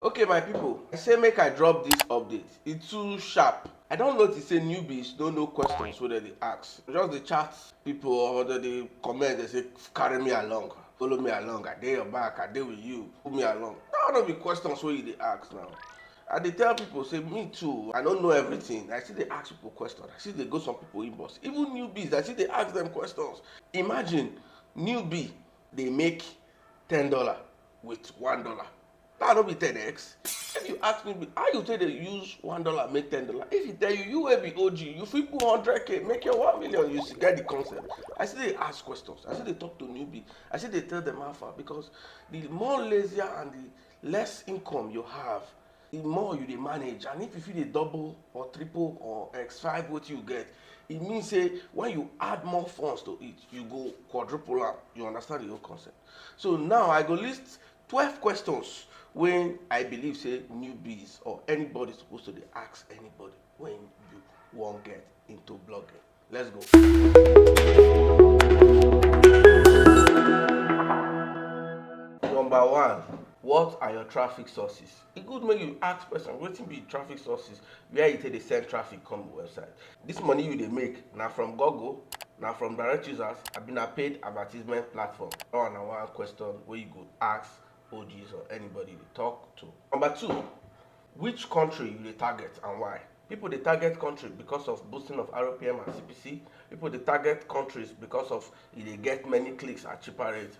Okay my people, I say make I drop this update, e too sharp. I don notice say newbies no know questions wey dem dey ask, just dey chat people or dem dey comment dey say carry me along, follow me along, I dey your back, I dey with you, pull me along. That one no be questions wey you dey ask now. I dey tell people say me too I no know everything, I still dey ask people questions, I still dey go some people inbox, even newbies I still dey ask them questions. Imagine newbie dey make ten dollar with one dollar. That no be 10x. If you ask me, how you take dey use one dollar make ten dollar? If he tell you, you wey be OG, you fit put hundred k make your one million. You still get the concept. I still dey ask questions. I still dey talk to newbie. I still dey tell them how far because the more lazier and the less income you have, the more you dey manage. And if you fit dey double or triple or x five wetin you get, e mean say when you add more funds to it, you go quadruple am. You understand the whole concept. So now I go list Twelve questions wey I believe say newbies or anybody suppose to dey ask anybody when you wan get into blogging. Let's go. Number one, what are your traffic sources? E good make you ask person wetin be traffic sources, where e take dey send traffic come the website. This money you dey make na from Google, na from direct users abi na paid advertisement platform? That one na one question wey you go ask OGs or anybody you dey talk to. Number two, which country you dey target and why? People dey target country because of boosting of RPM and CPC. People dey target countries because of e dey get many clicks at cheaper rate.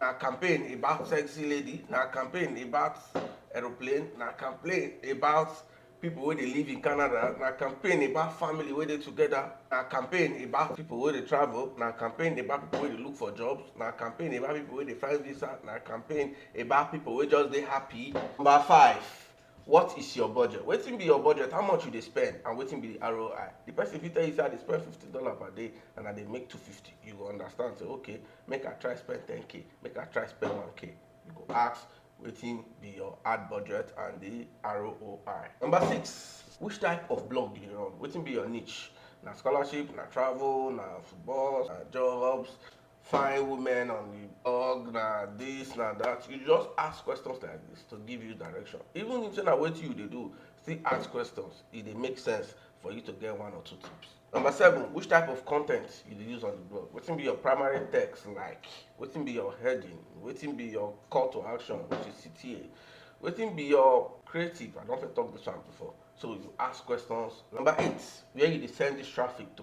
Na campaign about sexy lady, na campaign about aeroplane, na campaign about people wey dey live in Canada, na campaign about family wey dey together, na campaign about people wey dey travel, na campaign about people wey dey look for jobs, na campaign about people wey dey find visa, na campaign about people wey just dey happy. Number five, What is your budget? Wetin be your budget? How much you dey spend and wetin be the ROI? The person fit tell you say I dey spend fifty dollars per day and I dey make two fifty. You go understand say okay, make I try spend ten k, make I try spend one k. You go ask wetin be your ad budget and the ROI. Number six, which type of blog you dey run? Wetin be your niche? Na scholarship, na travel, na football, na jobs. fine women on the org na this na that you just ask questions like this to give you direction even if say na wetin you dey do still ask questions e dey make sense for you to get one or two tips number seven which type of content you dey use on the blog wetin be your primary text like wetin be your heading wetin be your call to action which is cta wetin be your creative i don fit talk this one before so you ask questions number eight where you dey send this traffic to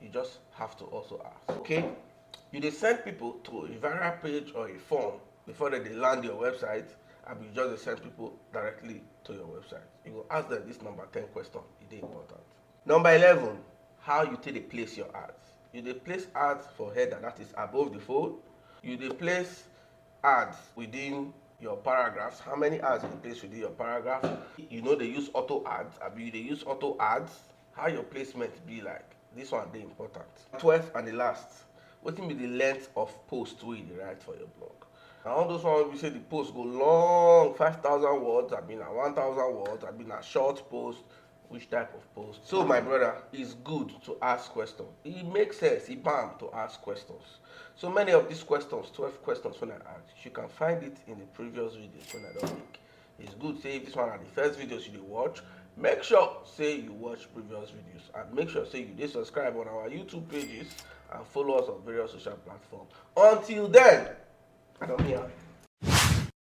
You just have to also ask. Okay, you dey send people to a viral page or a form before they dey land your website and you just dey send people directly to your website. You go ask them this number ten question, e dey important. Number eleven, how you take dey place your ads. You dey place ads for header that is above the fold, you dey place ads within your paragraphs, how many ads you dey place within your paragraph, you no dey use auto ads abi you dey use auto ads. How your placement be like? Dis one dey important. Twelfth and di last, wetin be di length of post wey you dey write for your blog? Na all those one wey be sey di post go long, five thousand words abi na one thousand words abi na short post, which type of post? So my brother, is good to ask question, e make sense, e bam to ask questions. So many of dis questions, twelve questions wey I ask, you can find it in di previous videos wey I don make. It's good say if this one na the first videos you dey watch, make sure say you watch previous videos and make sure say you dey subscribe on our YouTube pages and follow us on various social platforms. Until then, I don hear.